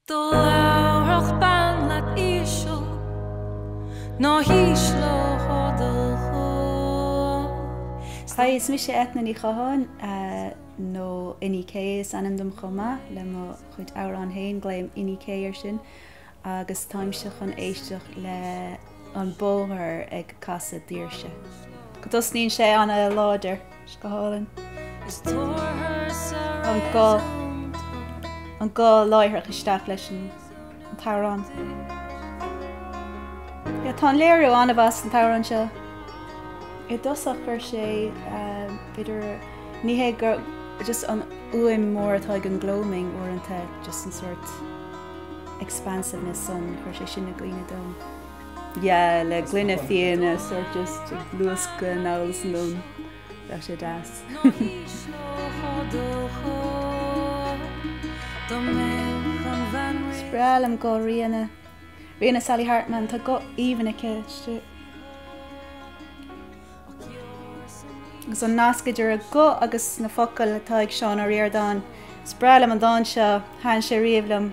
Dá labhródh bean leat íseal ná hísleofá do ghuth. Hi, is mise Eithne Ní Chatháin, nó Inní K is ainm dom chomh maith le mo chuid amhrán féin, glaoim Inní K air sin, agus táimse chun éisteacht le An Bóthar ag Casadh Daoirse. Go dtosnaíonn sé ana láidir. Scáileáin. An guth, an guth láithreach isteach leis an t-amhrán. Yeah, tá an léiriú ana-mhaith san t-amhrán seo. I dtosach chuir sé idir, ní hé gur just an fhuaim mór atá ag an Gloaming uaireanta, just an sort expansiveness san, chuir sé sin i gcuimhne dom. Yeah le gloine fíona sort just ag luascadh anall is anonn. Bheadh sé deas. Is breá liom guth Ríona. Ríona Sally Hartman tá guth aoibhinn aici. Agus an nasc idir a guth agus na focail atá ag Seán Ó Ríordáin. Is breá liom an dán seo, thaitn sé riamh liom.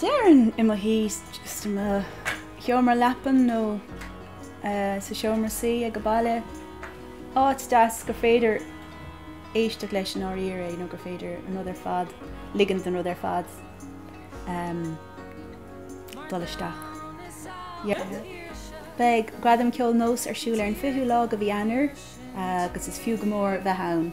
Déarfainn i mo shuí, just i mo sheomra leapan nó sa seomra suí aige baile, áit deas gur féidir éisteacht leis i ndáiríre nó gur féidir an rud ar fad, ligint don rud ar fad dul isteach. Beidh Gradam Ceoil Nós ar siúl ar an 20ú lá de mhí Eanáir agus is fiú go mór bheith ann.